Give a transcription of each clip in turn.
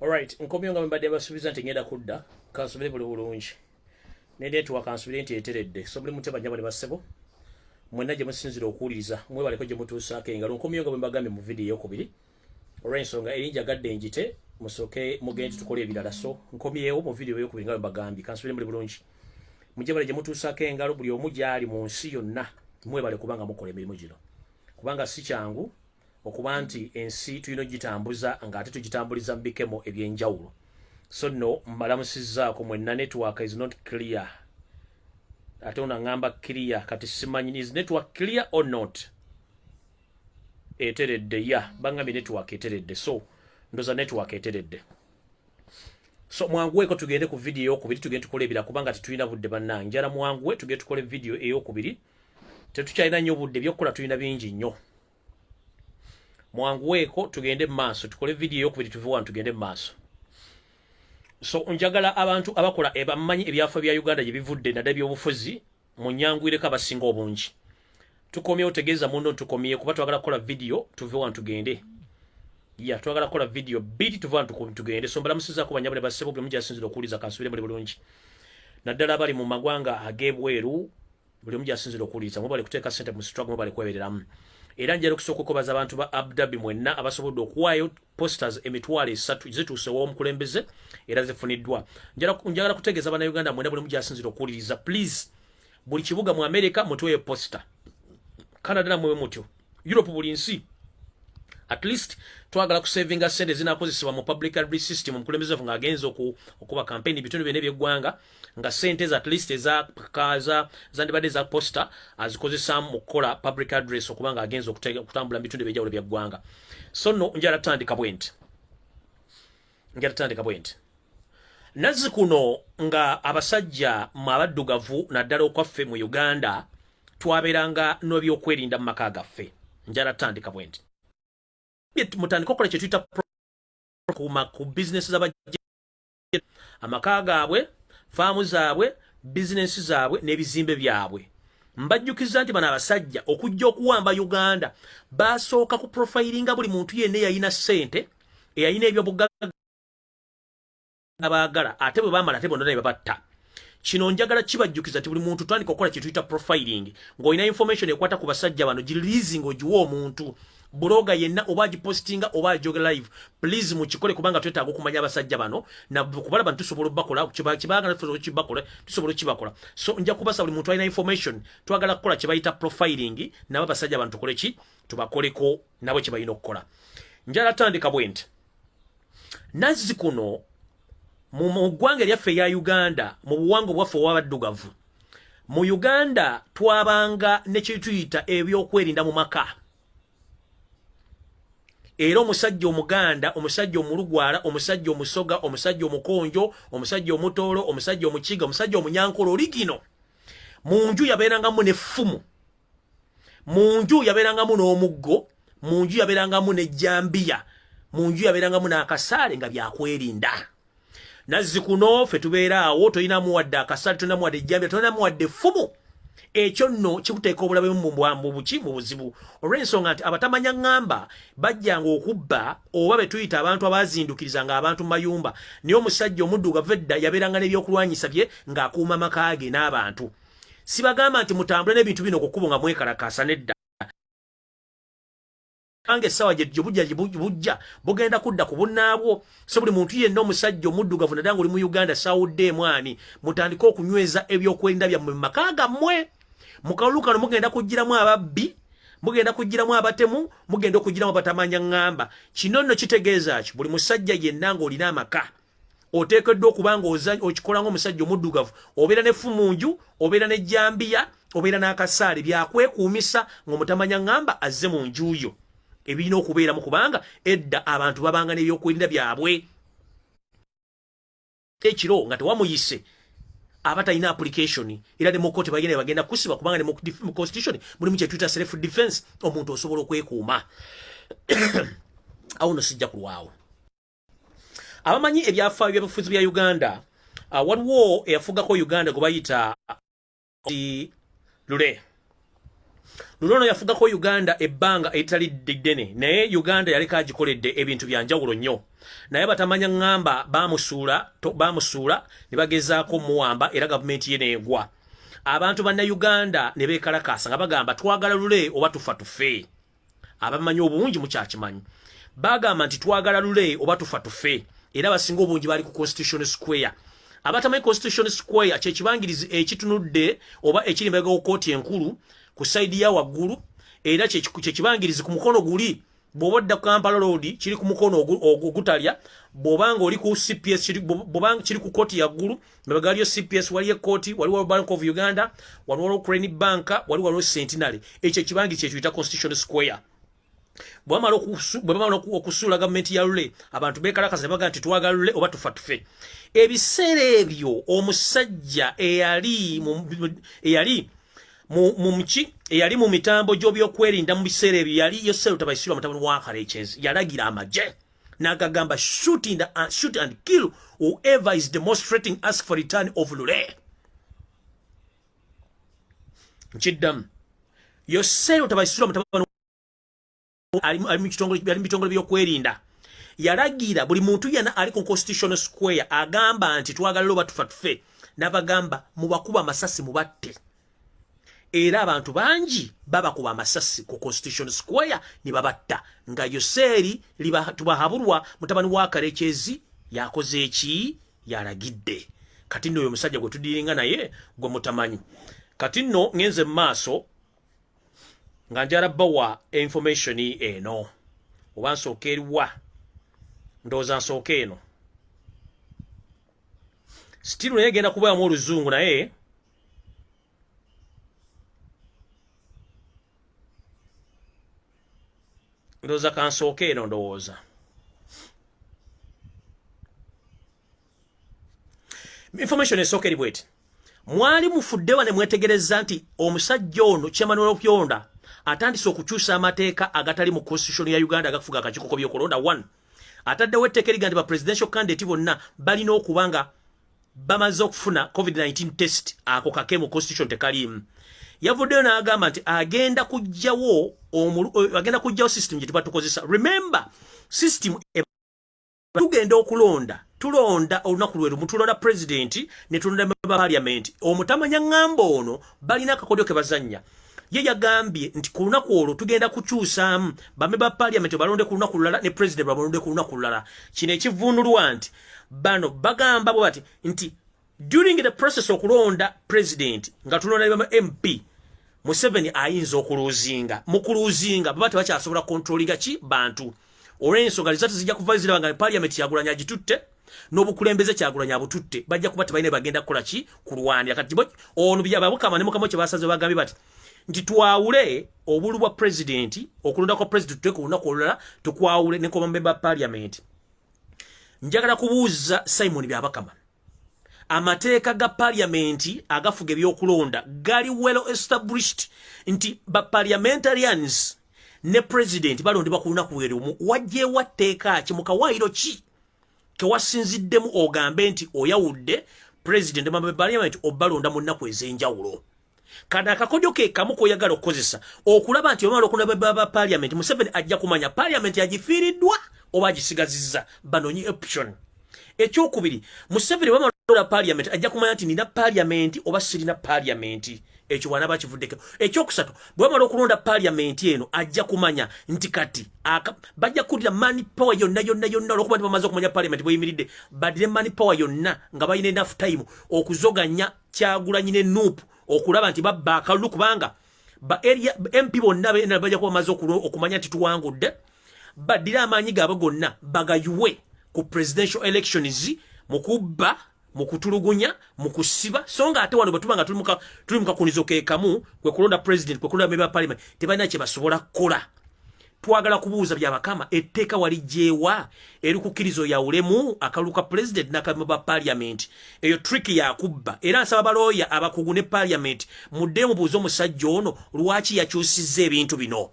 Alright, nkomyo nga mbadde basubiza nti ngenda kudda kansubire buli bulungi ne network kansubire nti eteredde so buli muteba nyabo ne basebo mwena gye musinzira okuwuliriza mwebaleko gye mutuusaako engalo nkomyo nga bwe mbagambye mu vidiyo eyokubiri olw'ensonga eri njagadde njite musoke mugende tukole ebirala so nkomyewo mu vidiyo eyokubiri nga bwe mbagambye kansubire muli bulungi mujje bale gye mutuusaako engalo buli omu gyali mu nsi yonna mwebale kubanga mukola emirimu gino kubanga si kyangu okuba nti ensi tulina ogitambuza nga ate tugitambuliza mu bikemo ebyenjawulo so no mbalamusizaako mwenna network is not clear ate ono aŋamba clear kati simanyi is network clear or not eteredde ya bangambye network eteredde so ndoza network eteredde so mwanguweko tugende ku vidiyo eyokubiri tugende tukole ebira kubanga tetulina budde bannange njala mwanguwe tugende tukole vidiyo eyokubiri tetukyalina nnyo budde byokukola tulina bingi nnyo mwanguweeko tugende mu maaso tukole vidiyo eyokubiri tuve wano tugende mu maaso so njagala abantu abakola ebamanyi ebyafa bya uganda gye bivudde nadda byobufuzi mu nyanguyireko abasinga obungi tukomyewo tegeeza muno ntukomye kuba twagala kukola vidiyo tuve wano tugende ya twagala kukola vidiyo bbiri tuve wano tugende so mbalamusizaako banyabule bassebo buli omu gyasinzira okuwuliza kansubire muli bulungi naddala abali mu magwanga ag'ebweru buli omu gyasinzira okuwuliriza mubale kuteeka sente mu struggle mubale kwebereramu era njala okusooka okubaza abantu ba abdabi mwenna abasobodde okuwaayo posters emitwalo esatu zituuse w'omukulembeze era zifuniddwa njagala kutegeeza banauganda mwena buli mugyasinzira okuwuliriza please buli kibuga mu amerika mutuweyo posta canada namwe mutyo Europe buli nsi at least twagala kusavinga sente zinakozesebwa mu public library system omukulembeze waffe ng'agenza okuba kampeyini ebitundu byona ebyeggwanga nga sente ezo at least ezakaza zandibadde eza posta azikozesaamu mu kukola public address okuba ng'agenza okutambula mu bitundu ebyenjawulo bya ggwanga so no njala tutandika bwenti njala tutandika bwenti nazi kuno nga abasajja mu abaddugavu naddala okwaffe mu uganda twabeeranga n'ebyokwerinda mu maka gaffe njala tutandika bwenti mutandika okukola kyetuyita kuma ku bizinesi zaba amaka gaabwe faamu zaabwe bizinesi zaabwe n'ebizimbe byabwe mbajjukiza nti bano abasajja okujja okuwamba uganda basooka ku profilinga buli muntu yenna eyalina ssente eyalina ebyobugagga abaagala ate bwe baamala ate bonna ne babatta kino njagala kibajjukiza nti buli muntu tandika okukola kye tuyita profiling ng'olina information ekwata ku basajja bano gilizi ng'ogiwa omuntu buloga yenna oba agipositinga oba ajoge live please mukikole kubanga twetaaga okumanya abasajja bano nakubalaba nti tusobola obakola kibagala tusobola okibakola tusobola okibakola so nja kubasa buli muntu alina information twagala kukola kye bayita profiling nabo abasajja bano tukole ki tubakoleko nabo kye balina okukola njala tandika bwe nti nazzi kuno mu ggwanga eryaffe eya uganda mu buwanga obwaffe owabaddugavu mu uganda twabanga nekyetuyita ebyokwerinda mu maka era omusajja omuganda omusajja omulugwala omusajja omusoga omusajja omukonjo omusajja omutoolo omusajja omukiga omusajja omunyankolo oligino mu nju yabeerangamu nefumu mu nju yabeerangamu n'omuggo mu nju yabeerangamu n'ejjambiya mu nju yabeerangamu n'akasaale nga byakwerinda nazzi kuno ffe tubeera awo tolinamu wadde akasaale tolinamu wadde ejjambiya tolinamu wadde effumu ekyo nno kikuteeka obulabe mubwambu buki mu buzibu olw'ensonga nti abatamanya ŋŋamba bajjanga okubba oba be tuyita abantu abazindukiriza ng'abantu mu mayumba naye omusajja omuddugavu edda yabeeranga n'ebyokulwanyisa bye ng'akuuma maka ge n'abantu sibagamba nti mutambule n'ebintu bino kukubo nga mwekalakaasa nedda kubanga essaawa gyejo bujja bujja bugenda kudda ku bunnaabwo so buli muntu yenna omusajja omuddugavu nadala nga oli mu uganda sawudde emwani mutandike okunyweza ebyokwerinda byammwe mu maka gammwe mu kalulu kano mugenda kugiramu ababbi mugenda kugiramu abatemu mugenda okugiramu abatamanya ŋŋamba kino nno kitegeeza ki buli musajja yenna ng'olina amaka oteekeddwa okuba nga okikola ngaomusajja omuddugavu obeera ne fu mu nju obeera ne jambiya obeera n'akasaale byakwekuumisa ng'omutamanya ŋŋamba azze mu nju yo ebirina okubeeramu kubanga edda abantu babanga n'ebyokwerinda byabwe ekiro nga tewamuyise aba talina application era ne mukooti bagenda bagenda kusiba kubanga ne mu constitution mulimu kyetuyita self defense omuntu osobola okwekuuma awo no sijja kulwawo abamanyi ebyafaayo byabufuzi bya uganda uh, waliwo eyafugako uganda gwe bayita lule lule ono yafugako uganda ebbanga eritali ddene naye uganda yaleka agikoledde ebintu bya njawulo nnyo naye batamanya ŋŋamba bamusuula bamusuula ne bagezaako omuwamba era gavumenti ye neegwa abantu bannayuganda ne beekalakaasa nga bagamba twagala lule oba tufa tufe abamanyi obungi mukyakimanyi bagamba nti twagala lule oba tufa tufe era basinga obungi bali ku constitution square abatamanyi constitution square kyekibangirizi ekitunudde oba ekiri mbega ku kooti enkulu ku saidi ya waggulu era kyekibangirizi ku mukono guli bwoba odda ku kampala road kiri ku mukono ogutalya bwobanga oli ku cps bwobanga kiri ku kooti yaggulu mabega waliyo cps waliyo ekkooti wali waliwo bank of uganda wali waliwo crane bank wali waliwo centenary ekyo ekibangi kyekiyita constitution square bwamala okusuula gavumenti ya lule abantu bekalakaza ne baga nti twagala lule oba tufa tufe ebiseera ebyo omusajja eyali eyali mumuki eyali mu mitambo gy'obyokwerinda mu biseera ebyo yali yoseruta baisirwa mutabani wa karekyezi yalagira amagye nakagamba shoot, in the, uh, shoot and kill whoever is demonstrating ask for return of lule nkiddamu yoseero tabaisula mutabani ali mu bitongole byokwerinda yalagira buli muntu yena ali ku constitutional square agamba nti twagala loba tufa tufe nabagamba mubakuba amasasi mubatte era abantu bangi babakuba amasasi ku constitution square ne babatta nga yoseeri tubahabulwa mutabani wa karekyezi yakoze eki yalagidde kati nno oyo omusajja gwe tudiringa naye gwe mutamanyi kati nno ngenze mu maaso nga njala bawa information eno oba nsooka eriwa ndowooza nsooka eno sitiru naye genda kubayamu oluzungu naye ndoza kansooka eno ndowooza information esooka eri bweti mwali mufuddewa ne mwetegereza nti omusajja ono kyemanuel okyonda atandise okukyusa amateeka agatali mu constitution ya uganda agakufuga akakikoko byokulonda one ataddewo etteeka eriga nti ba presidential candidate bonna balina okuba nga bamaze okufuna covid-19 test ako kake mu constitution tekaliimu yavuddeyo n'agamba nti agenda kujjawo eh, agenda kujjawo system gye tuba tukozesa remember system e- tugenda okulonda tulonda olunaku lwe lumu tulonda pulezidenti ne tulonda meba paliamenti omutamanya ŋŋamba ono balina akakodyo ke bazannya ye yagambye nti ku lunaku olwo tugenda kukyusaamu bame ba paliamenti balonde ku lunaku lulala ne pulezidenti balonde ku lunaku lulala kino ekivunulwa nti bano bagamba bwe bati nti during the process okulonda president nga tulonda ne mp museveni ayinza okuluzinga mukuluzinga baba tebakyasobola kontrolinga ki bantu olwensonga lizati zijja kuvayo ziraba nga parliament yagulanya agitutte n'obukulembeze kyagulanya abututte bajja kuba tebalina bagenda kukola ki kulwanira kati ono byababukama ne mukama kye basaze bagambye bati nti twawule obulu bwa president okulonda kwa president tuteeka olunaku olulala tukwawule ne kwa bamemba parliament njagala kubuuzza simon byabakama amateeka ga paliamenti agafuga ebyokulonda gali well established nti ba parliamentarians ne president balondebwa ku lunaku lwe lumu wajjeewo tteeka ki mu kawaayiro ki kewasinziddemu ogambe nti oyawudde president ma parliament obalonda mu nnaku ez'enjawulo kano akakodyo ke kamu koyagala okukozesa okulaba nti omala okulaba baba parliament museveni ajja kumanya parliament yagifiiriddwa oba agisigazizza banonyi option ekyokubiri museveni bamala parliament ajja kumanya nti nina parliament oba sirina parliament ekyo bwana bakivuddeko ekyokusatu bwebamala okulonda parliament eno ajja kumanya nti kati bajja kukulira money power yonna yonna yonna olwokuba nti bamaze okumanya parliament bweyimiridde badire money power yonna nga balina enough time okuzoganya kyagulanyi ne nup okulaba nti babba akalulu kubanga ba area mp bonna bena bajja kuba maze okumanya nti tuwangudde baddire amaanyi gaabwe gonna bagayuwe ku presidential elections mu kubba mu kutulugunya mu kusiba so nga ate wano bwe tuba nga tuli mu kakunizo ke kamu kwe kulonda president kwe kulonda meba parliament tebalina kye basobola kukola twagala kubuuza byabakama etteeka wali gyewa eri kukkiriza oyawulemu akalulu ka pulezidenti n'akabimu ba paliamenti eyo trick yakubba era nsaba balooya abakugu ne paliamenti mudde mubuuze omusajja ono lwaki yakyusizza ebintu bino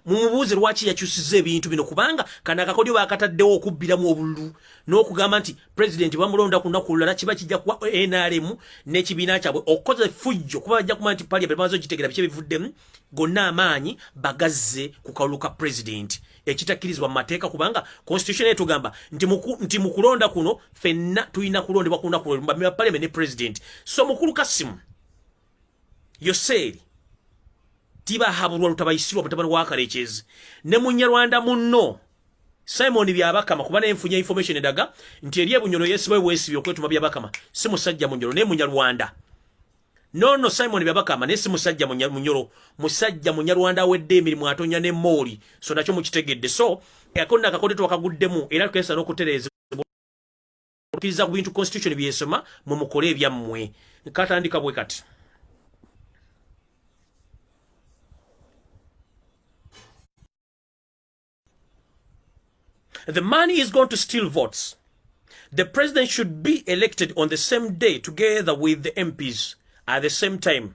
mumubuuze lwaki yakyusiza ebintu bino kubanga kana akakodyo bakataddewo okubbiramu obululu n'okugamba nti pulezidenti bamulonda ku lunaku olulala kiba kijja kuwa nrm n'ekibiina kyabwe okukoza effujjo kuba bajja kumanya nti paliament bamaze ogitegera biki ebivuddemu gonna amaanyi bagazze ku kalulu ka pulezidenti ekitakkirizibwa mu mateeka kubanga constitution etugamba nti mu kulonda kuno fenna tulina kulondebwa ku lunaku lwe bamira paliament ne pulezidenti so mukulu kasimu yoseeri tibahabulwa lutabayisirwa mutabani wa kalekyezi ne munyarwanda munno simon byabakama kuba nenfunya information edaga nti eri ebunyolo yesibawe bwesibi okwetuma byabakama si musajja munyolo naye munyarwanda nono simon byabakama naye si musajja munyolo musajja munyarwanda awedde emirimu atonya ne mooli so nakyo mukitegedde so akonna akakode twakaguddemu era tukesa n'okutereeza okiriza ku bintu constitution byesoma mwe mukole ebyammwe nkatandika bwe kati the money is going to steal votes the president should be elected on the same day together with the mps at the same time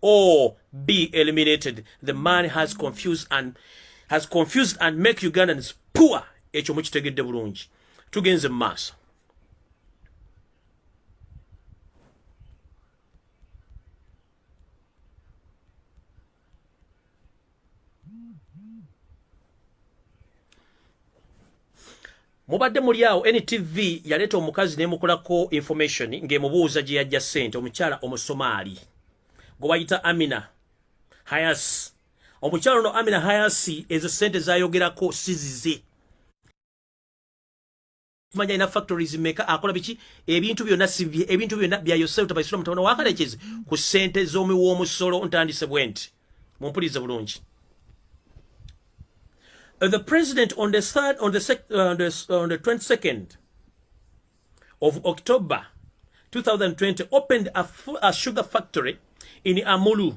or be eliminated. The man has confused and has confused and make Ugandans poor. Ekyo mukitegedde bulungi. Tugenze mu maaso. mubadde muli awo ntv yaleeta omukazi nemukolako information ng'emubuuza gye yajja ssente omukyala omusomaali gwe bayita amina hayas omukyala ono amina hayasi ezo ssente zayogerako sizize kumanya ina factories meka akola biki ebintu byona sibye ebintu byona bya yourself tabaisula mutabana wakalekeze ku sente zomi wo musolo ntandise bwenti mumpulize bulungi uh, the president on the third on the, sec, uh, the, uh, the 22nd of october 2020 opened a, a sugar factory in amulu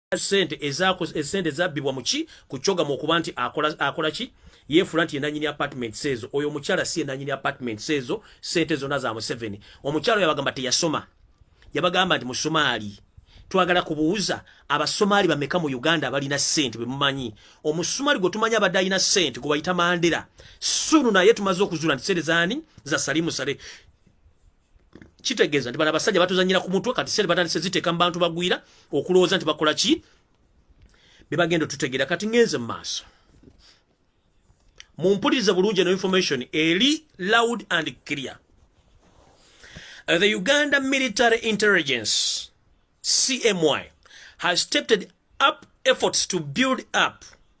sente ezako esente zabbibwa muki kuchoga mu kuba nti akola akola ki yefula nti enanyini apartment sezo oyo omukyala si enanyini apartment sezo sente zona za Museveni omukyala yabagamba te yasoma yabagamba nti musomali twagala kubuuza abasomali bameka mu Uganda abalina sente bemumanyi omusumali gwe tumanya abadayina sente gwe bayita Mandela sunu naye tumaze okuzula nti sente zani za Salimu Sale kitegeeza nti bano abasajja batuzanyira ku mutwe kati sente batandise ziteeka mu bantu bagwira okulowooza nti bakola ki be bagenda otutegeera kati ngenze mu maaso mumpulirize bulungi eno information eri loud and clear uh, the uganda military intelligence cmy has stepped up efforts to build up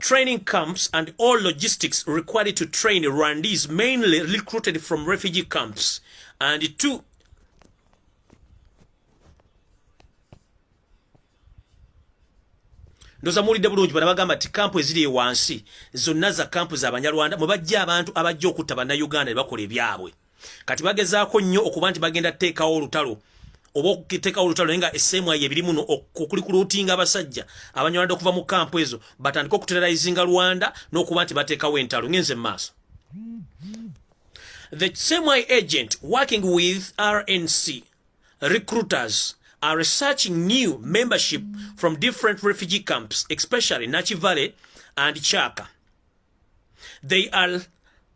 training camps and all logistics required to train Rwandese mainly recruited from refugee camps and two ndoza mulide bulungi bana bagamba ati kampu eziri ewansi zonna za kampu za banyarwanda mwe bajja abantu abajja okutta bannayuganda ne bakola ebyabwe kati bagezaako nnyo okuba nti bagenda tuteekawo olutalo oba okutekawo olutalo naye nga esseemu ayo ebiri muno okuli ku luutinga abasajja abanywanadde okuva mu kampu ezo batandike okuterrorizinga rwanda n'okuba nti bateekawo entalo ngenze mu maaso the same agent working with rnc recruiters are researching new membership from different refugee camps especially nakivale and chaka they are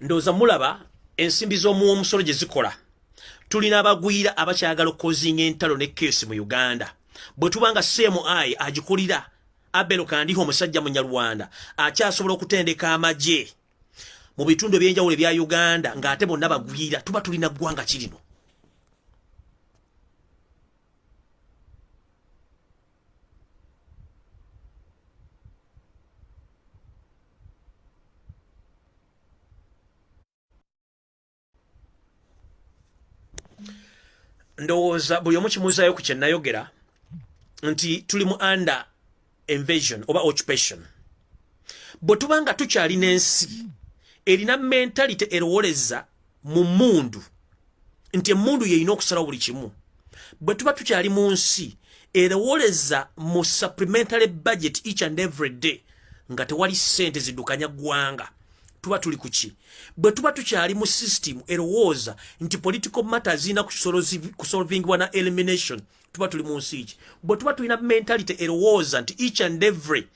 ndowooza mulaba ensimbi z'omuwa omusolo gye zikola tulina abagwira abakyagala okukozinga entalo ne keesi mu uganda bwe tuba nga seemu ayi agikulira abelo kandiho omusajja munyarwanda akyasobola okutendeka amagye mu bitundu ebyenjawulo ebya uganda ng'ate bonna bagwira tuba tulina ggwanga kirino ndowooza buli omu kimuuzaayo ku kyenayogera nti tuli mu under invasion oba occupation bwe tuba nga tukyalina ensi erina mentality erowoleza mu mundu nti emundu yeyina okusalawo buli kimu bwe tuba tukyali mu nsi erowoleza mu supplementary budget each and every day nga tewali sente zidukanya gwanga tuba tuli kuki bwe tuba tukyali mu system erowooza nti political matter zirina kusolvingibwa na elimination tuba tuli mu nsi ki bwe tuba tulina mentality erowooza nti each and every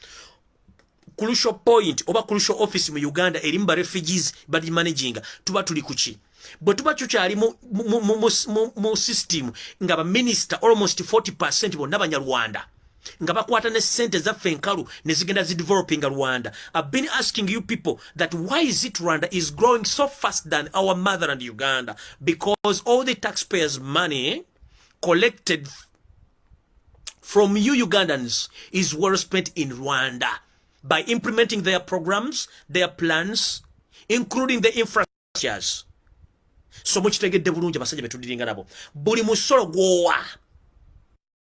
crucial point oba crucial office mu uganda erimu ba refugees bali managing tuba tuli kuki bwe tuba tukyali mu system nga baminista almost 40 percent bonna banyarwanda nga bakwata ne sente zaffe enkalu ne zigenda zidevelopinga rwanda ive been asking you people that why is it rwanda is growing so fast than our mother and uganda because all the taxpayers money collected from you Ugandans is well spent in Rwanda by implementing their programs, their plans, including the infrastructures. So much to get the Burunja Masaja to Dinganabo. Burimusoro Goa.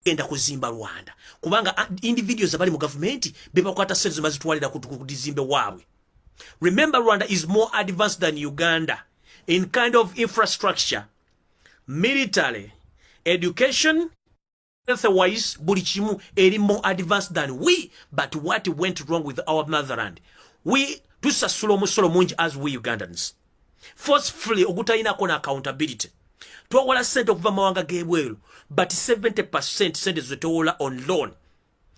Enda kuzimba Rwanda. Kubanga ah, individuals abali mu government beba kwata sezo mazitwalira kudizimbe wawe. Remember Rwanda is more advanced than Uganda in kind of infrastructure. military education health wise buli kimu eri more advanced than we but what went wrong with our motherland we tusasula omusolo mungi as we ugandans forcefully ogutalinako na accountability twawola sente okuva mawanga g'ebweru but 70 percent sente zetowola on loan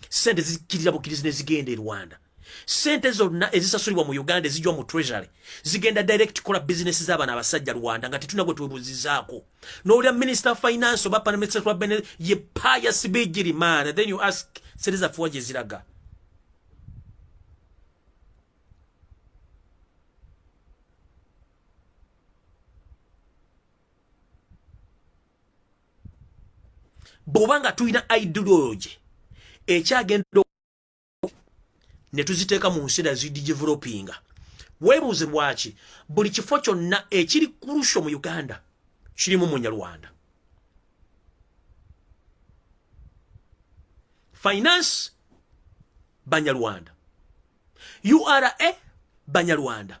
sente zikirira bukirizi nezigenda e rwanda sente zonna ezisasulibwa mu uganda ezijwa mu treasury zigenda direct kola bizinesi z'abana abasajja rwanda nga tetuna gwe twebuzizaako nowulira minister of finance oba panameseabene ye paya sibigiri maana then you ask sente zafuwa gye ziraga bwoba nga tulina ideology ekyagenda ne tuziteeka mu nsi dazidigivelopinga weebuuze lwaki buli kifo kyonna ekiri kurusho mu uganda kirimu munyarwanda finance banyarwanda ura banyarwanda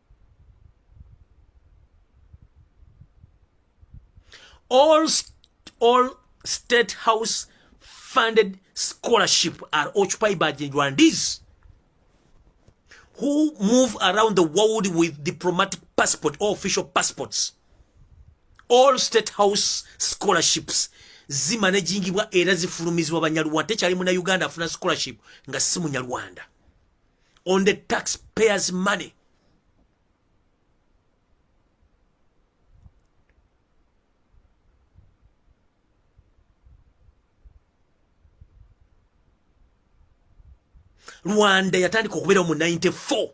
all all state house funded scholarship are occupied by the Rwandese who move around the world with diplomatic passport or official passports all state house scholarships zimanagingibwa era zifulumizibwa banyarwanda tekyali muna uganda afuna scholarship nga si munyarwanda on the taxpayers money rwanda yatandika okubeerawo mu 94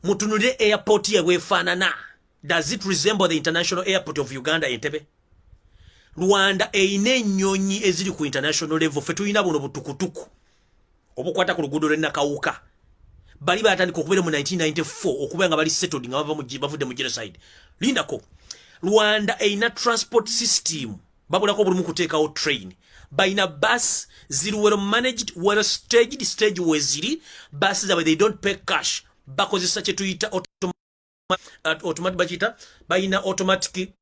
mutunulire airport yebwefaanana does it resemble the international airport of uganda entebe rwanda erina ennyonyi eziri ku international level fe tulina buno butukutuku obukwata ku luguudo lw'e Nakawuka bali baatandika okubeera mu 1994 okubeera nga bali settled nga bavudde mu genocide lindako rwanda erina transport system babulako bulimu kuteekawo train balina bus ziri well managed well staged stage weziri bus zabwe they don't pay cash bakozesa kyetuyita automatic uh, bakiyita balina automatic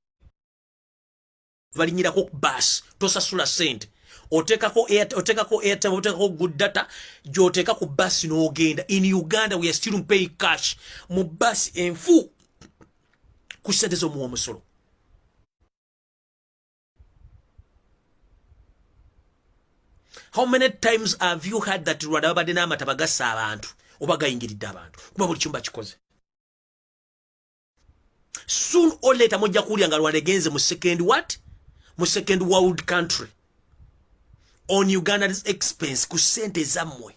balinyirako ku baasi tosasula sente otekako otekako airtime otekako good data gyoteka ku bus n'ogenda in uganda we are still pay cash mu bus enfu ku sente z'omuwa omusolo how many times have you had that rwanda babadde n'amata bagassa abantu oba gayingiridde abantu kuba buli kimu bakikoze soon or later mujja kuwulira nga rwanda egenze mu second what mu second world country on uganda's expense ku sente ezammwe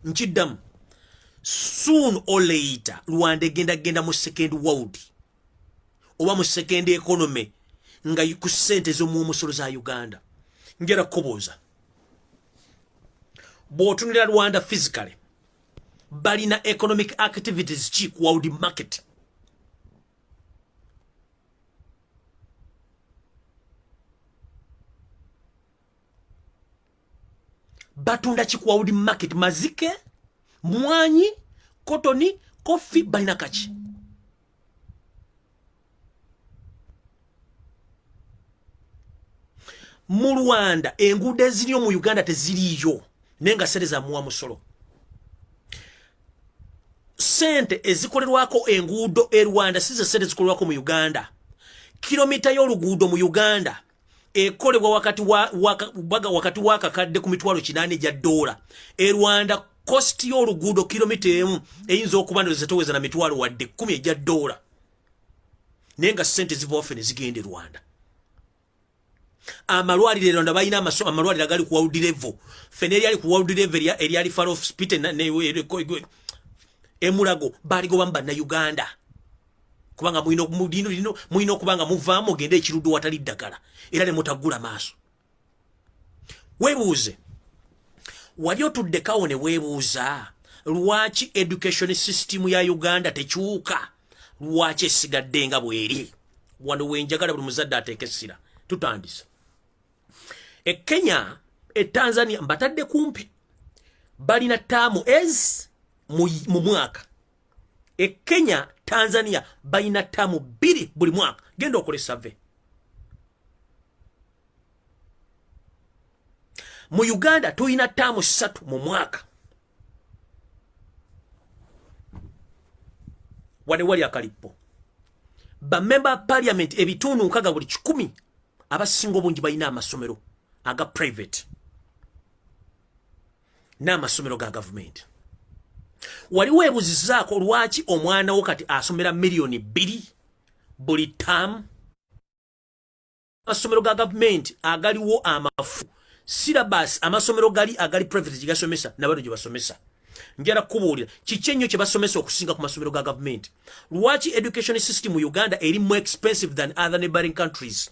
nkiddamu soon or later rwanda egenda genda mu second world oba mu second economy nga ku sente z'omuomusolo za uganda njera kukubuuza bw'otunira rwanda physically balina economic activities ki ku world market batunda ki ku world market mazike mwanyi kotoni kofi balina kaki mu rwanda enguudo eziriyo mu uganda teziriiyo naye nga sente zamuwa musolo sente ezikolerwako enguudo e rwanda size sente zikolerwako mu uganda kilomita y'oluguudo mu uganda ekolebwa wakati wa waka, baga wakati wa kakadde ku mitwalo kinane ja dola e Rwanda cost yo lugudo kilomita emu eyinza okuba ndoze toweza na mitwalo wadde 10 eja dola nenga sente ziva ofene zigende Rwanda amalwalire Rwanda bayina amaso amalwalire gali ku world level fene yali ku world level ya eri ali far off spite na ne emulago bali go bamba na Uganda kubanga mulina mulino lino mulina okubanga muvaamu ogende ekiruddu watali ddagala era ne mutaggula maaso weebuuze wali otuddekawo ne weebuuza lwaki education system ya uganda tekyuka lwaki esigadde nga bweri wano wenjagala buli muzadde ateeka essira tutandise e kenya e tanzania mbatadde kumpi balina taamu ez mu mwaka e kenya tanzania balina taamu bbiri buli mwaka genda okole save mu uganda tulina taamu ssatu mu mwaka wane wali akalippo bamemba ba parliament ebitundu nkaga buli kikumi abasinga obungi balina amasomero aga private n'amasomero ga gavumenti wali weebuzizaako lwaki omwana wo kati asomera miliyoni bbiri buli taamu amasomero ga gavumenti agaliwo amafu sirabasi amasomero gali agali private gye gasomesa nabano gye basomesa njala kukubuulira kiki ennyo kye basomesa okusinga ku masomero ga gavumenti lwaki education system mu uganda eri more expensive than other neighboring countries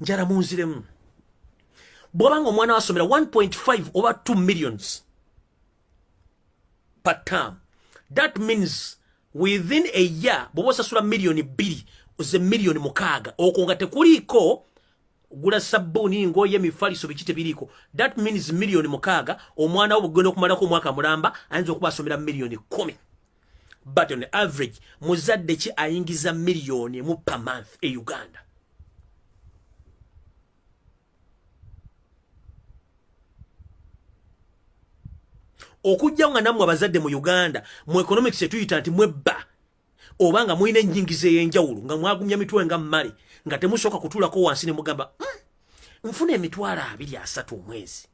njala munziremu bwoba nga omwana wasomera 1.5 oba 2 millions per term that means within a year bwoba osasula millioni bbiri ze millioni mukaaga okwo nga tekuliiko gula sabbuuni ngoye mifaliso biki tebiriiko that means millioni mukaaga omwana wo bwegenda okumalako omwaka mulamba ayinza okuba asomera millioni kumi but on average muzadde ki ayingiza miliyoni emu per month e uganda okujja nga nammwe abazadde mu uganda mu economics etuyita nti mwebba oba nga mulina ennyingiza ey'enjawulo nga mwagumya mitwe nga mmale nga temusooka kutuulako wansi ne mugamba hmm, nfuna emitwalo abiri asatu omwezi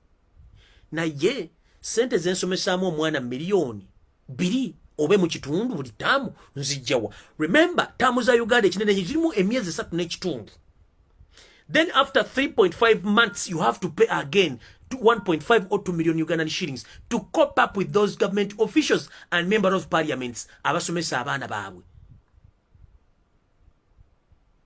naye sente zensomesaamu omwana miliyoni biri obe mu kitundu buli taamu nzijjawa remember taamu za uganda ekinene kirimu emyezi esatu n'ekitundu then after 3.5 months you have to pay again 1.5 or 2 million ugandan shillings to cop up with those government officials and member of parliaments abasomesa abaana baabwe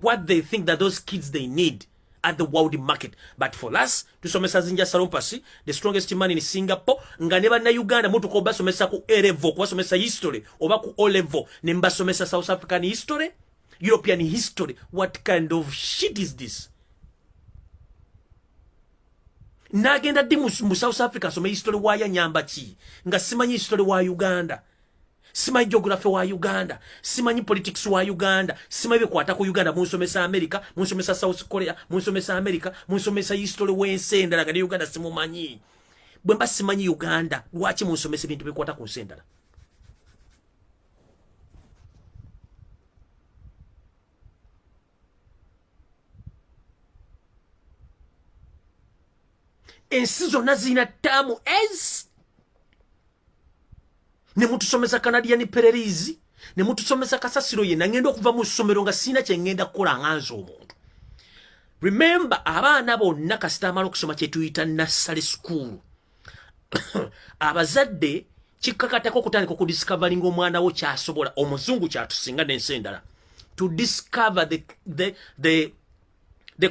what they think that those kids they need at the world market but for us tusomesa zinja salompasi the strongest man in singapore nga ne bannayuganda mutuka obasomesa ku elevo kubasomesa history oba ku olevo ne mbasomesa south african history european history what kind of shit is this nagenda ddi mu south africa asome history wayanyamba ki nga simanyi history wa uganda simanyi geography wa uganda simanyi politics wa uganda simanyi bekwata ku uganda munsomesa america munsomesa south korea munsomesa america munsomesa history wensi endala nga ne uganda simumanyi bwe mba simanyi uganda lwaki munsomesa ebintu bikwata ku nsi endala ensi zonna zirina taamu ez ne mutusomesa canadian pererizi ne mutusomesa kasasiro yenna ngenda okuva mu ssomero nga sirina kye ngenda kukola nga nze omuntu remembe abaana bonna kasita amala okusoma kyetuyita nassale sukuulu abazadde kikkakatako okutandika okudiscoveringa omwana wo kyasobola omuzungu kyatusinga n'ensi endala to discover the, the, the, the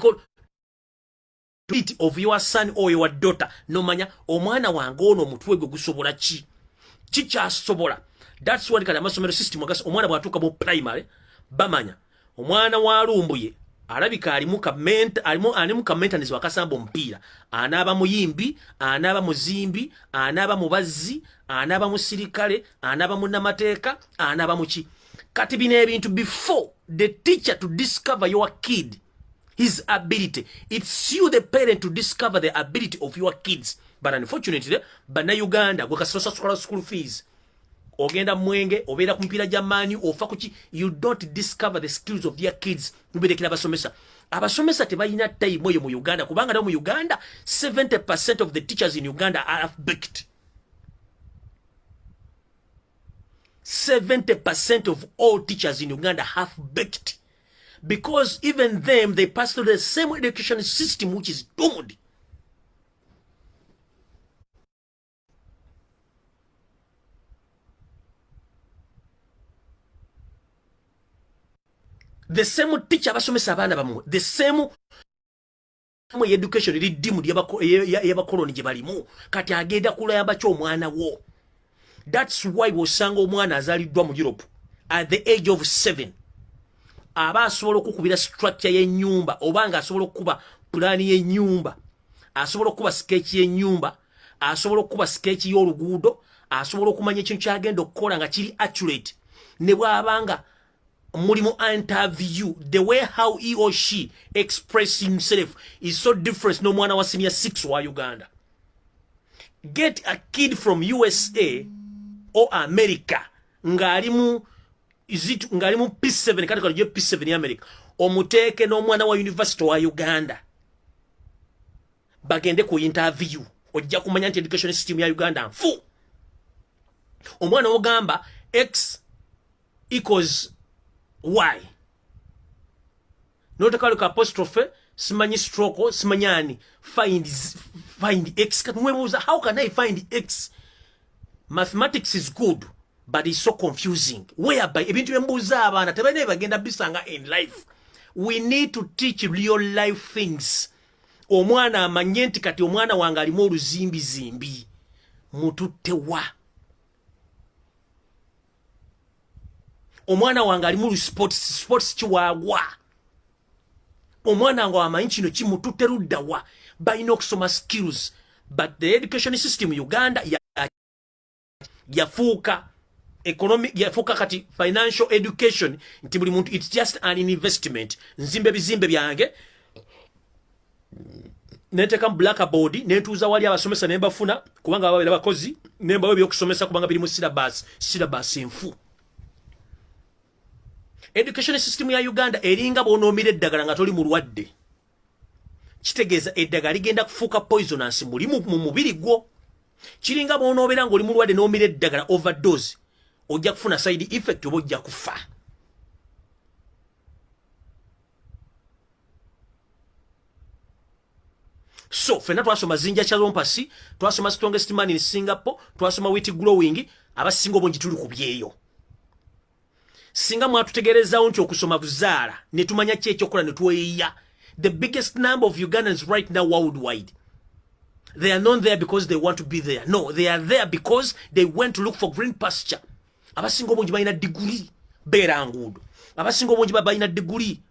of your son or your daughter nomanya omwana wange ono omutwe gwe gusobola ki kikyasobola that's why kati amasomero system agasa omwana bwatuuka mu primary bamanya omwana wa lumbuye alabika alimu kamenta alimu alimu kamenta nizo akasamba omupiira anaaba muyimbi anaaba muzimbi anaaba mubazzi anaaba musirikale anaaba munnamateeka anaaba muki kati bino ebintu before the teacher to discover your kid his ability it's you the parent to discover the ability of your kids but unfortunately banauganda gwekasirosasukala school fees ogenda mwenge obeera ku mipiira gya maanyi ofa kuki you don't discover the skills of their kids mubirekera abasomesa abasomesa tebalina time oyo mu uganda kubanga nawo mu uganda 70 percent of the teachers in uganda are baked 70 percent of all teachers in uganda have baked because even them they pass through the same education system which is doomed the same teacher abasomesa abaana bamwe the same mu education eri dimu yabakoloni gye balimu kati agenda kulayamba ki omwana wo thats why wosanga omwana azaliddwa mu europe at the age of seven aba asobola okukubira structure y'ennyumba oba nga asobola okukuba pulaani y'ennyumba asobola okukuba skeeki y'ennyumba asobola okukuba skeeki y'oluguudo asobola okumanya ekintu kyagenda okukola nga kiri accurate ne bw'aba nga mulimu interview the way how he or she express himself is so different n'omwana wa senior six wa uganda get a kid from usa or america ng'ali mu zitu ngali mu P7 kati kali je P7 ya America omuteeke n'omwana wa university wa Uganda bagende ku interview ojja kumanya nti education system ya uganda nfu omwana ogamba x equals y notekaleka apostrophe simanyi stroke simanyi ani find, find x kati mwebuuza how can i find x mathematics is good but it's so confusing whereby ebintu byembuuza abaana tebalina ebagenda bisanga in life we need to teach real life things omwana amanye nti kati omwana wange alimu oluzimbizimbi mututte wa omwana wange alimu lusports sports kiwaagwa omwana wange wamanyi kino kimututte ludda wa balina okusoma skills but the education system uganda ya yafuuka economic yafuuka kati financial education nti buli muntu it's just an investment nzimba ebizimbe byange nenteka mu blackboard nentuuza wali abasomesa ne mbafuna kubanga baba babeera bakozi ne mbawa ebyokusomesa kubanga biri mu syllabus syllabus enfu education system ya uganda eringa bwonoomira eddagala nga toli mulwadde kitegeeza eddagala ligenda kufuuka poisonance muli mu mubiri gwo kiringa bwonoobeera ngaoli mulwadde n'omira eddagala overdose ojja kufuna side effect oba ojja kufa so fena twasoma zinja chalompasi twasoma strongest man in singapore twasoma wit glowing abasinga obungi tuli ku byeyo singa mwatutegerezawo nti okusoma kuzaala netumanya ki ekyokola netweyiya the biggest number of ugandans right now worldwide they are not there because they want to be there no they are there because they went to look for green pasture abasinga obungi balina diguli beera nguudo abasinga obungi balina diguli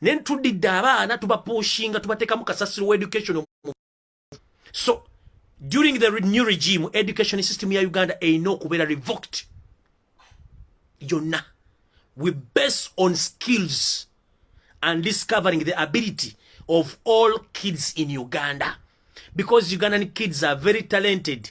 naye ntudidde abaana tubapushinga tubateekamu kasasiro wa education so during the new regime education system ya uganda erina okubeera revoked yonna we base on skills and discovering the ability of all kids in uganda because ugandan kids are very talented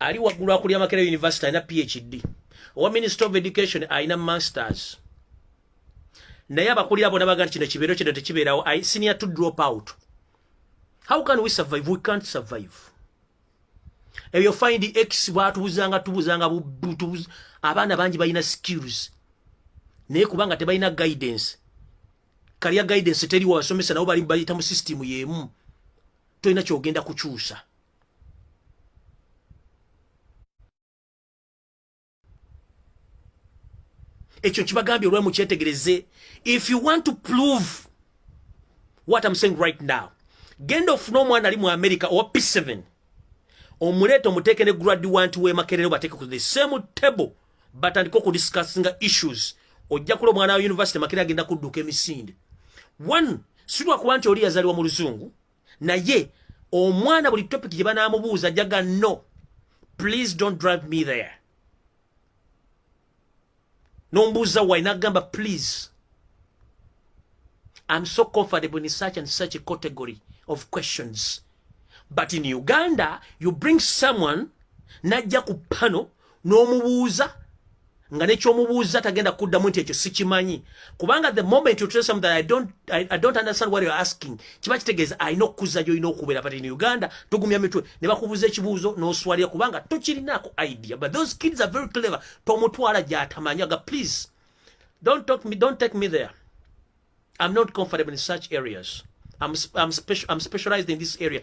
ali waggulu akulira makera university alina phd owa minister of education alina masters naye abakulira bona baga nti kino kibeero kino tekibeerawo i senior to drop out how can we survive we can't survive ebyo find x bwatubuzanga tubuzanga abaana bangi balina skills naye kubanga tebalina guidance kalya guidance teri wasomesa nabo bali bayita mu system yemu toyina kyogenda kukyusa ekyo kibagambye olwe mukyetegereze if you want to prove what I'm saying right now genda ofuna omwana ali mu america owa p7 omuleeta omuteeke ne graduant wemakerere obateeke ku the same table batandika okudiscussinga issues ojja kula omwana wa university makira agenda kudduka emisinde one silwakuba nti oli yazaliwa mu luzungu naye omwana buli topic gye banaamubuuza ajjaga no please don't drive me there nombuuza wai nagamba please I'm so comfortable in such and such a category of questions. But in Uganda, you bring someone, najja kupano, n'omubuuza nga nekyomubuuza tagenda kuddamu nti ekyo sikimanyi kubanga the moment you tell something I don't, I, I don't understand what you're asking kiba kitegeeza alina okukuza gyolina okubeera but in uganda tugumya mitwe ne bakubuuza ekibuuzo n'oswalira kubanga tokirinaako idea but those kids are very clever tomutwala gy'atamanya ga please don't, talk me, don't take me there I'm not comfortable in such areas I'm, I'm, special, I'm specialized in this area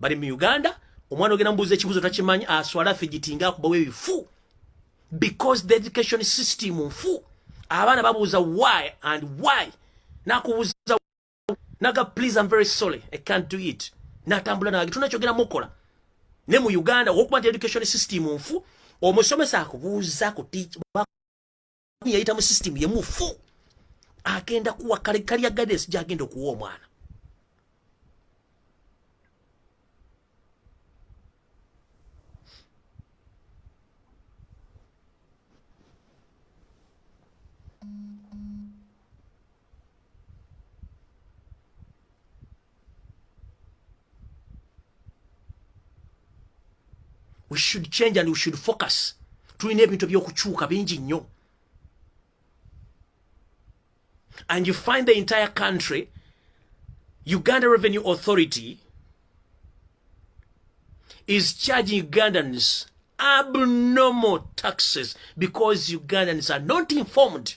bali mu uganda omwana ogenda mubuuza ekibuzo takimanyi aswala figitinga akubawo ebifu because the education system nfu abaana babuuza why and why nakubuuza naga please am very sorry i can't do it natambula nage tunakyogera mukola ne mu uganda wokuba nti education system nfu omusomesa akubuuza ku yayita mu system ye mufu agenda kuwa kale kali ya guidance jagenda okuwa omwana we should change and we should focus tulina ebintu ebyokukyuka bingi nnyo and you find the entire country uganda revenue authority is charging ugandans abnormal taxes because ugandans are not informed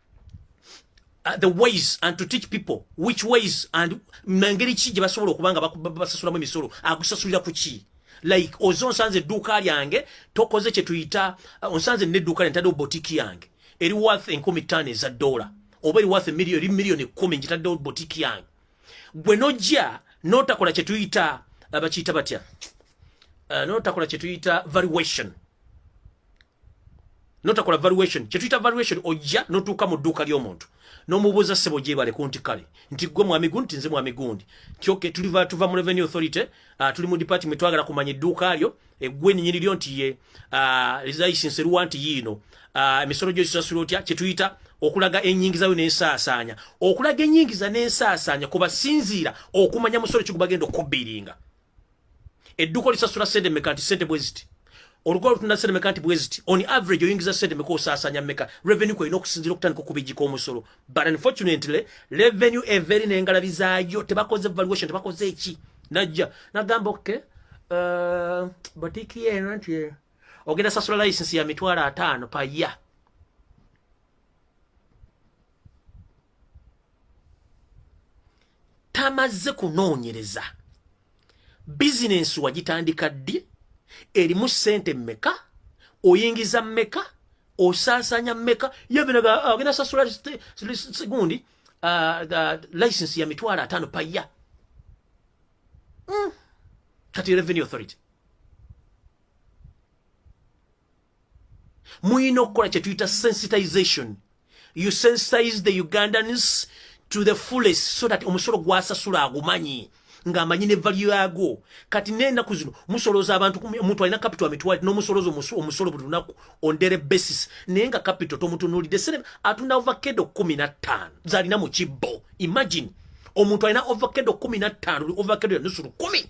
Uh, the ways and to teach people which ways and mangeri ki gye basobola okuba nga basasulamu emisolo agusasulira ku ki like oze onsanze edduuka lyange tokoze kye tuyita uh, onsanze nedduuka lyange taddewo botiki yange eri worth enkumi ttaano eza dola oba eri worth million eri million ekkumi ngitaddewo botiki yange gwe nojja notakola kye tuyita uh, bakiyita batya notakola kye tuyita valuation notakola valuation kyetuyita valuation ojja notuuka mu dduuka ly'omuntu nomubuuza ssebo gyebale ku nti kale nti gwe mwami gundi tinze mwami gundi kyoke tuliva tuva mu revenue authority uh, tuli mu department twagala kumanya edduuka lyo egwe eh, ninyini lyo nti ye uh, lizayisinse luwa nti yiino uh, emisolo gyo gisasula otya kyetuyita okulaga enyingiza yo n'ensaasaanya okulaga enyingiza n'ensaasaanya kubasinziira okumanya musolo kigubagenda okubiringa edduko lisasula sente meka nti sente bweziti olugoba lutunda sente meka nti bweziti on average oyingiza sente meka osaasanya meka revenue kwolina okusinzira okutandika okubijika omusolo but unfortunately revenue everi nengalabi zaayo tebakoze valuation tebakoze eki najja nagamba oke uh, botiki yeno nti eh, ogenda sasula license ya mitwalo ataano pa ya tamazze kunoonyereza bizinensi wagitandika ddi erimu ssente mmeka oyingiza mmeka osaasaanya mmeka yebinagenda sasula gundi license ya mitwalo ataano paya hmm. kati revenue authority muyina okukola kyetuyita sensitization you sensitize the ugandans to the fullest so that omusolo gwasasula agumanyi ng'amanyi ne value yaagwo kati n'enaku zino musolooza abantu omuntu alina kapito amitwali n'omusolooza omusolo buli lunaku on daily basis naye nga kapito tomutunuulidde sere atunda ovakedo kumi na ttaano zalina mu kibbo imagine omuntu alina ovakedo kumi na ttaano oli ovakedo ya nusu lukumi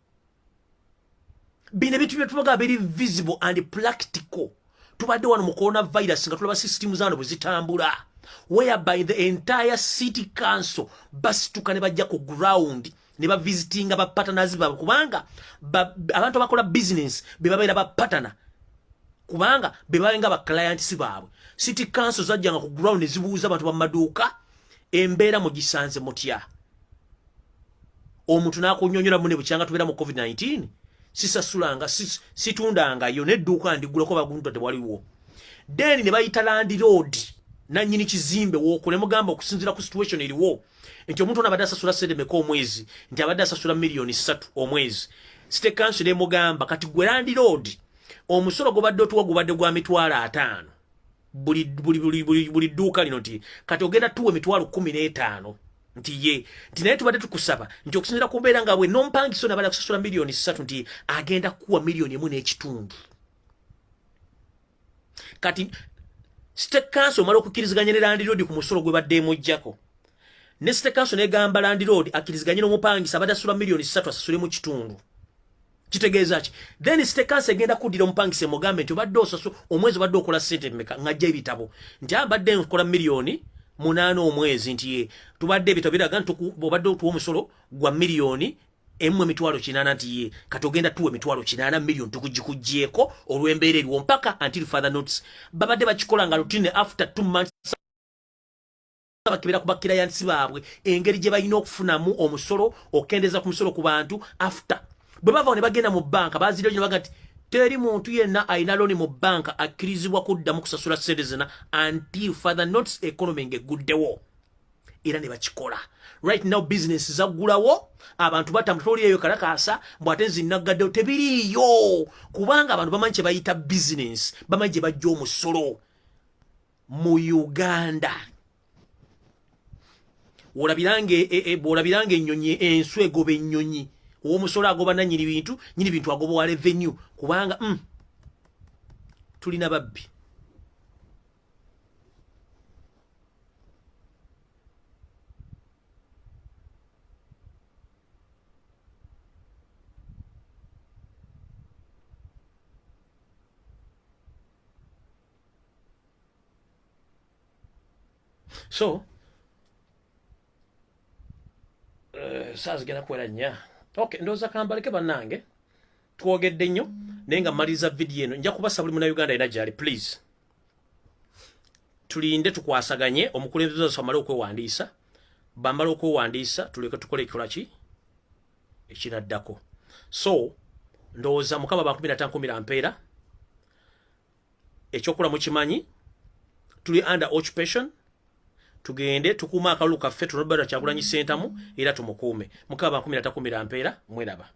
bino ebintu byetubaga biri visible and practical tubadde wano mu corona virus nga tulaba system zano bwe zitambula whereby the entire city council basituka ne bajja ku ground ne bavisitinga bapatanazi baabwe kubanga abantu abakola bizinensi be babeera bapatana kubanga be babenga baclientsi baabwe city council zajjanga ku ground ne zibuuza abantu bamaduuka embeera mugisanze mutya omuntu nakunyonyola mune bukyanga tubera mu covid 19 sisasulanga situndanga yo nedduuka ndigulako bagunta tewaliwo then ne bayita landlord nanyini kizimbe wokule mugamba okusinzira ku situation eriwo nti omuntu ono abadde asasula sente meka omwezi nti abadde asasula miliyoni ssatu omwezi site kanso nemugamba kati gwe landlord omusolo gubadde otuwa gubadde gwa mitwalo ataano buli buli buli buli buli duuka lino nti kati ogenda tuwa emitwalo kumi n'etaano nti ye nti naye tubadde tukusaba nti okusinzira ku mbeera nga bwe nompangiso nabala kusasula miliyoni ssatu nti agenda kuwa miliyoni emu n'ekitundu kati state council omala okukiriziganya ne landiroodi ku musolo gwe badde emujjako ne state council negamba landiroodi akiriziganye n'omupangisa abadde asula miliyoni ssatu asasule mu kitundu kitegeeza ki then sitekansi egenda kuddira omupangisa emugambe nti obadde osasu omwezi obadde okola sente meka ng'ajja ebitabo nti abadde ah, nkola miliyoni munaana omwezi nti ye tubadde ebitabo biraga nti obadde otuwa omusolo gwa miliyoni emu emitwalo kinaana nti ye kati ogenda tuwa emitwalo kinaana miliyoni tukugikugyeko olw'embeera eriwo mpaka until father notes babadde bakikola nga lutine after two months bakebera ku bakirayansi baabwe engeri gye balina okufunamu omusolo okukendeeza ku musolo ku bantu after bwe bavawo ne bagenda mu banka baziryo gino baga nti teri muntu yenna alina looni mu banka akkirizibwa kuddamu kusasula ssente zina until father notes economy ng'egguddewo era ne bakikola right now business zaggulawo abantu batambula toli eyo kalakaasa mbu ate nzinaggaddewo tebiriiyo kubanga abantu bamanyi kye bayita business bamanyi gye bajja omusolo mu uganda olabiranga e, e, e, bwolabiranga ennyonyi ensu egoba ennyonyi owomusolo agoba nanyini bintu nyini bintu agoba wa revenue kubanga mm, tulina babbi so uh, saazigenda kuwera nnya ok ndowooza kambaleke bannange twogedde nnyo naye nga mmaliriza vidiyo eno nja kubasa buli munauganda era gyali please tulinde tukwasaganye omukulembeze waffe amale okwewandiisa bamala okwewandiisa tuleke tukole ekikola ki ekinaddako so ndowooza mukama bankumira tankumira mpeera ekyokula mukimanyi tuli under occupation tugende tukuuma akalulu kaffe tunobera kyagulanyi sentamu era tumukuume mukaba bankumira takumira mpeera mweraba